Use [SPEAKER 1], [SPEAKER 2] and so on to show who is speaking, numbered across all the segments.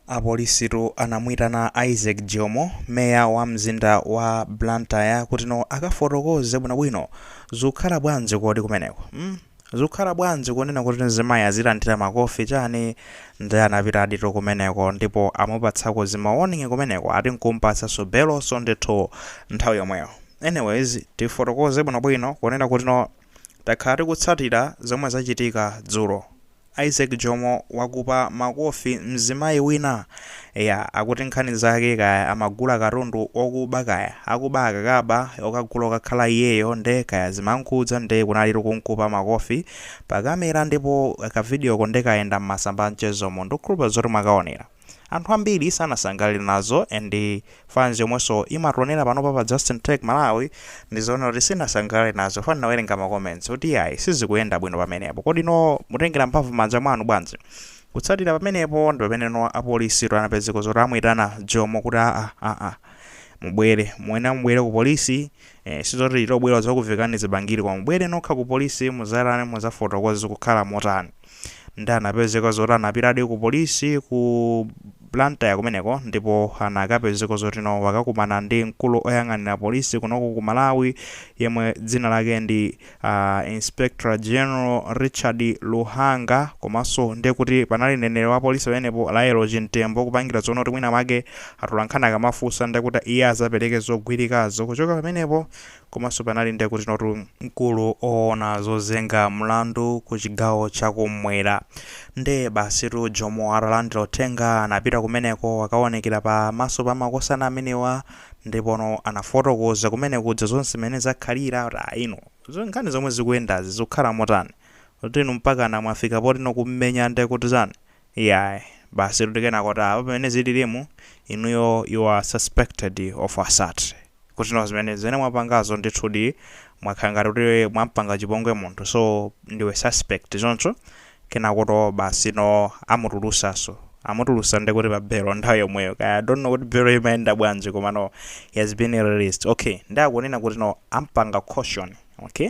[SPEAKER 1] Apolisitu anamuitana Isaac Jomo, meya wa mzinda wa Blantyre kuti no akafotokoze bwinobwino. Zukhala bwanji kodi kumeneko? mm? Zukhala bwanji kunena kuti mzimayi azilandira makofi chani? Nde anapitaditu kumeneko ndipo amupatsako zima warning kumeneko ati nkumpatsanso belonso ndithu nthawi yomweyo. Anyways, tifotokoze bwinobwino kunena kuti no takhala tikutsatira zomwe zachitika dzulo. Isaac Jomo wakhupa makofi mzimayi wina? Eya, akuti nkhani zake kaya amagula katundu okuba kaya akuba akakaba okagula okakhala iyeyo nde kaya zimamkhudza nde kunalitu kumkhupa makofi pa camera ndipo ka videoko ndi kayenda mmasamba a mchezomu ndikukhulupira zoti mwakaonera. Anthu ambiri sanasangalale nazo and fans yomwenso imationera panopa pa Justin Tech Malawi ndizoona kuti sinasangalale nazo chifukwa ndinawerenga ma comments oti yayi sizikuyenda bwino pamenepo. Koma no mutengera mphamvu m'manja mwanu bwanji? Kutsatira pamenepo ndi pamene no apolisitu anapezeka zoti amuyitana Jomo kuti aa aa mubwere muyenera mubwere ku polisi eh, sizoti tobwera zakuvekani zibangiri koma mubwere nokha ku polisi muzatani muzafotokoze zikukhala motani nde anapezeka zoti anapitadi ku polisi ku blantyre kumeneko ndipo anakapezeka zoti no wakakumana ndi mkulu oyang'anira polisi kunoko ku malawi yemwe dzina lake ndi uh, inspector general richard luhanga komanso nde kuti panali mneneri wa polisi pamenepo lael chimtembo kupangira zonena kuti mwina mwake atolankhani akamafunsa ndekuti iye azapereke zogwirikazo kuchoka pamenepo Komanso panali nde kuti notu mkulu owona zozenga mlandu ku chigawo cha kum'mwera nde basitu Jomo atalandira uthenga anapita kumeneko akawonekera pa maso pa makosana amenewa ndipono anafotokoza kumeneko za zonse mene zakhalira kuti ayi inu za nkhani zomwe zikuyendazi zikukhala motani kuti inu mpakana mwafika potino kummenya nde kuti chani Iyayi. Basitu ndi kenako ati aa. Apa pamene zililimu, inuyo you are suspected of assault. Kuti no zimene, zimene mwapangazo ndithudi mwakhala ngati kuti mwampanga chipongwe munthu so ndiwe suspect choncho kenakotu basi no amutulusanso. Amutulusa nde kuti pa belo nthawi yomweyo. Kaya I don't know kuti belo imayenda bwanji koma no he has been released. Okay. Nde akunena kuti no ampanga caution. Okay.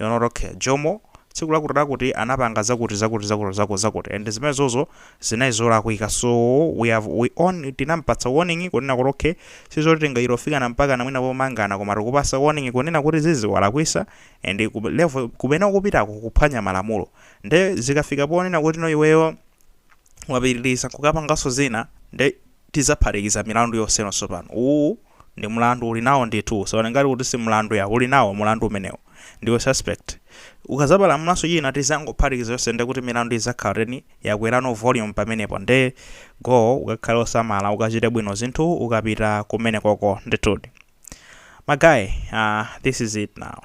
[SPEAKER 1] Iwo anati okay. Jomo, tsiku lakuti lakuti anapanga zakuti zakuti zakuti zakuti zakuti and zimene zozo zinali zolakwika so we have we on tinampatsa warning kunena kuti okay sizoti tingayifikitse mpakana mwina pomangana koma tikupasa warning kunena kuti zizi walakwisa and kube- level kumene ukupitako kuphwanya malamulo nde zikafika ponena kuti no iweyo wapitiriza nkukapanganso zina nde tidzaphatikiza milandu yonseno tsopano. Uwu ndi mlandu uli nawo ndithu. Usawone ngati kuti si mlandu ya, uli nawo mlandu umenewu. Ndiwe suspect. Ukadzapalamulanso china tidzangophatikiza yonse nde kuti milandu idzakhala 10 yakwerano volume pamenepo nde go ukakhale osamala ukachite bwino zinthu ukapita kumenekoko ndithudi. Ma guy so this is it now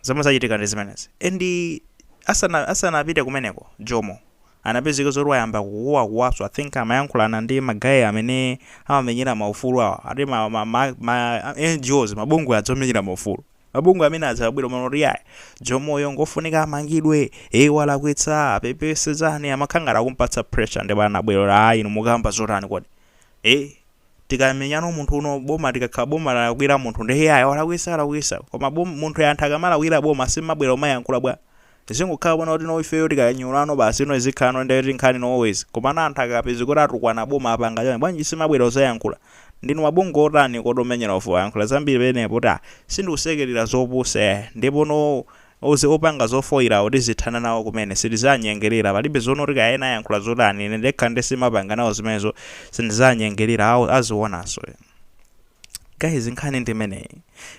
[SPEAKER 1] zomwe zachitika ndi zimenezi and asana asanapite kumeneko Jomo anapezeka zoti wayamba kukuwakuwaso i think amayankhulana ndi ma guy amene amamenyera ma ufulu awa ati ma ma ma ma NGOs mabungwe aja omenyera ma ufulu mabungwe amene aja abwera pano kuti yayi jomoyo ngofunika amangidwe ee walakwitsa apepese chani amakhala ngati akumpatsa pressure ndipo anabwera kuti ayi inu mukamba zotani kodi ee tikamenya munthu inu boma tikakhala boma lalakwira munthu nde iyayi walakwisa walakwisa koma bom- munthu anthu akamalakwira boma simabwera kumayankhula bwa Zingokhala zoona kuti no ifeyo tikanyulana basi no izikhalano ndi eti nkhani no always komano anthu akapeza kuti atukwana boma apanga chani bwanji simabwera kuzayankhula ndinu mabungwe otani kodi omenyera ufulu ayankhula zambiri penepo kuti ah sindikusekelera zopusa iyayi ndipo no uze opanga zofoirawo tizithana nawo kumene sitizanyengelera palibe zoona kuti kaya ena ayankhula zotani ine ndekha nde simapanga nawo zimenezo sindizanyengelera awo azionaso ena. Guys nkhani ndi imeneyi.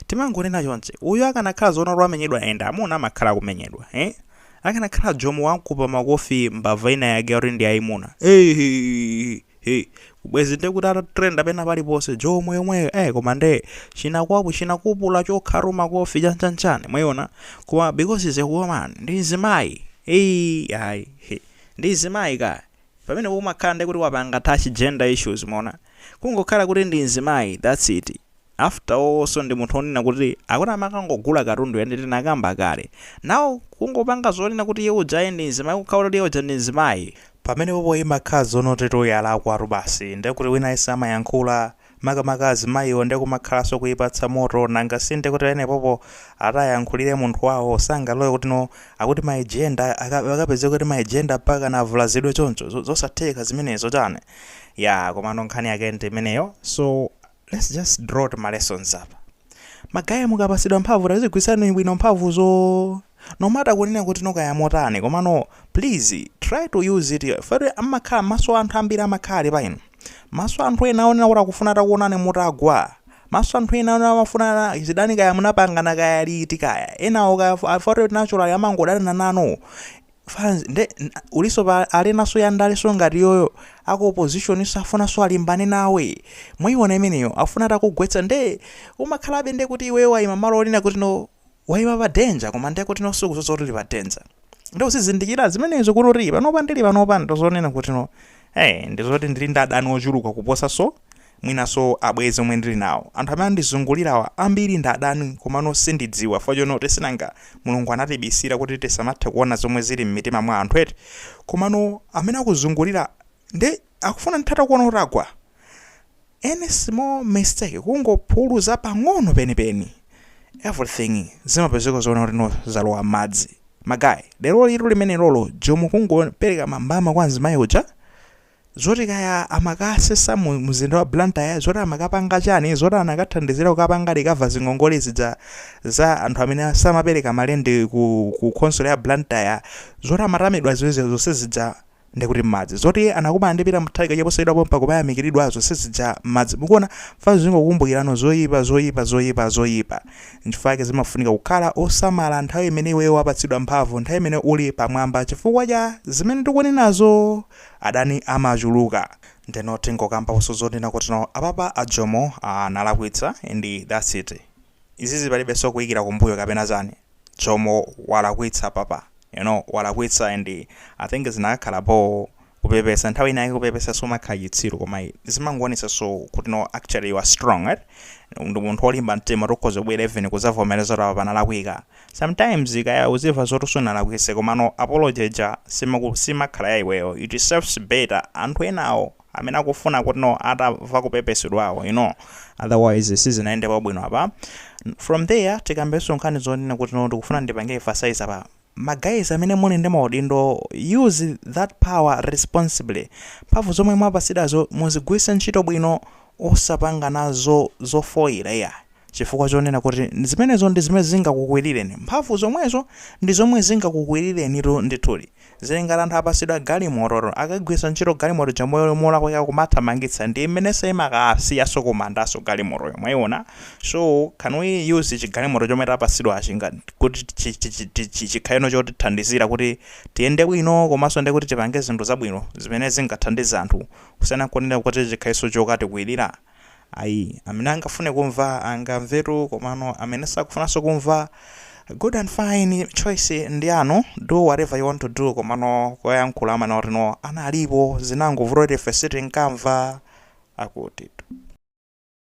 [SPEAKER 1] Timangonena chonchi. Uyu akanakhala zoona kuti wamenyedwa and amuna amakhala akumenyedwa. Eh? Akanakhala Jomo wamkupa makofi mbava ina yake yoti ndi yayimuna. Hey, hey, hey. Bwenzi nde kuti atatrenda pena paliponse Jomo yomweyo. Eh koma nde chinakwapu chinakwapula chokhalu makofi chanchanchani. Mwayiona? Koma because is a woman ndi mzimayi. Hey, ayi. Hey. Ndi mzimayi ka. pamenepo umakhala nde kuti wapanga touch gender issues mwaona kungokhala kuti ndi mzimayi that's it after all awonso ndi munthu onena kuti akuti amakangogula katundu and tinakamba kale now kungopanga zonena kuti iye ujayi ndi mzimayi kukhala kuti iye uja ndi mzimayi pamenepopo imakhala zoonatu yalakwatu basi nde kuti wina aliyense amayankhula makamaka azimayiwo nde kumakhalanso kuipatsa moto nanga sinde kuti penepopo akuti ayankhulire munthu wawo sangalole kuti no akuti ma gender aka- akapezeke kuti ma gender mpaka navulazidwe choncho zo- zosatheka zimenezo chani ya komano nkhani yake ndi imeneyo so let's just draw two ma lessons apa Ma guy mukapasidwa mphamvu tazigwisani bwino mphamvuzo no matter kunena kuti no kaya motani komano please try to use it fair amakhala maso anthu ambiri amakhala ali pa inu maso anthu ena onena kuti akufuna atakuonani mutagwa maso anthu ena onena amafuna zidani kaya munapangana kaya liti kaya enawo kaya fair naturally amangodanana nanu fans nde ngati uliso pa alinaso ya ndale so ngati yoyo aku opposition so afunaso alimbane nawe mwayiona imeneyo afuna atakugwetsa nde umakhalabe nde kuti iweyo wayima malo onena kuti no wayima pa danger koma nde kuti no sukuziwa zoti uli pa danger nde usizindikira zimenezo kuti uli panopa ndili panopa ndozonena kuti no hey ndizoti ndili ndi adani ochuluka kuposa so mwinanso abwenzi omwe ndili nawo. Anthu amene andizungulirawa ambiri ndi adani komano sindidziwa chifukwa chonena kuti sinanga Mulungu anatibisira kuti tisamathe kuona zomwe zili m'mitima mwa anthu eti? Komano amene akuzungulira nde akufuna ndithu atakuona utagwa any small mistake kungophuluza pang'ono penipeni everything zimapezeka zonena kuti no zalowa m'madzi. Magaye, lerolitu limenelolo Jomo kungopereka mbama kwa mzimayi uja? zoti kaya amakasesa mu mzinda wa Blantyre, zoti amakapanga chani, zoti anakathandizira kukapanga recover zingongole zija za anthu amene samapereka ma rent ku ku khonsolo ya Blantyre, zoti amatamidwa zija zonse zija nde kuti mmadzi, zoti anakumana ndi Peter Mutharika chaposachedwa pompa kumayamikiridwa zonse zija mmadzi. Mukuona? Fana tizingokumbukirano zoyipa, zoyipa, zoyipa, zoyipa. Nchifukwa chake zimafunika kukhala osamala nthawi imene iweyo wapatsidwa mphamvu, nthawi imene uli pamwamba chifukwa cha zimene ndikunenazo! Adani amachuluka ndeno tingokambaoso zonena kuti no apapa a Jomo aah analakwitsa and that's it izizi palibeso kuikira kumbuyo kapena chani Jomo walakwitsa apapa you know walakwitsa and I think zinakakhala boo kupepesa nthawi ina yake kupepesa sumakhala chitsiru koma zimangoonesaso kuti no actually you are strong eti ndi munthu olimba mtima ukhoza kubwera even kuzavomereza kuti apapa nalakwitsa Sometimes kaya uziva zoti sunalakwise komano apology ja simaku simakhala ya iweyo it serves better anthu enawo amene akufuna kuti no atamva kupepesedwawo you know otherwise sizinayendebe bwino apa from there tikambeso nkhani zonena kuti no ndikufuna ndipange emphasize apa ma guys amene muli ndi maudindo use that power responsibly mphamvu zomwe mwapasidazo muzigwirise ntchito bwino osapanga nazo zofoyira iyayi. Chifukwa chonena kuti zimenezo ndi zimene zingakukwirireni, mphamvu zomwezo ndi zomwe zingakukwirirenitu ndithudi. Zili ngati anthu apatsidwa galimototu, akaigwiritsa ntchito galimoto ija molakwika kumathamangitsa ndiye mmenenso imakakusiyanso kumandanso galimotoyo, mwaiona? So, can we use chigalimoto chomwe tapatsidwachi ngati, kuti chikhaleno chotithandizira kuti tiyende bwino komanso ndiye kuti tipange zinthu zabwino zimene zingathandize anthu kusiyana n'kunena kuti chikhalenso chokatikwirira? Ayi. Amene angafune kumva angamvetu komano amene sakufunanso kumva good and fine choice ndi yanu do whatever you want to do komano koyankhula amanena kuti no analipo zinangovuta kuti ife sitinkamva akutitu.